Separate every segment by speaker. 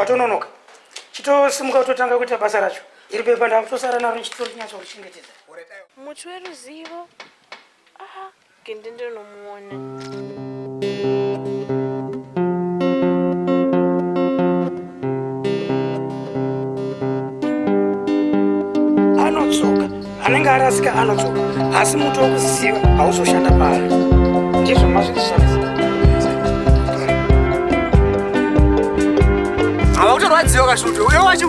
Speaker 1: watononoka chitosimuka utotanga kuita basa racho iri pepa ndakutosara naro ndichitorinyatsa kuchengetedza muti
Speaker 2: weruzivo aha gende ndinomuona
Speaker 1: anodzoka anenge arasika anodzoka asi muti wokuziva hauzoshanda paari ndizvo mazvikushandisa
Speaker 3: havakutorwadziwa kashuto uyo wacho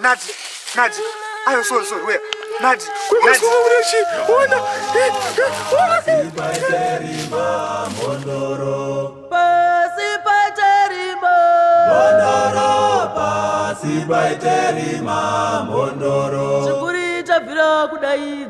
Speaker 3: Nadi, Nadi, ayo sorry sorry where? Nadi, Nadi.
Speaker 4: Ona. Sibaiterima mondoro. Chikuri chabvira kudai.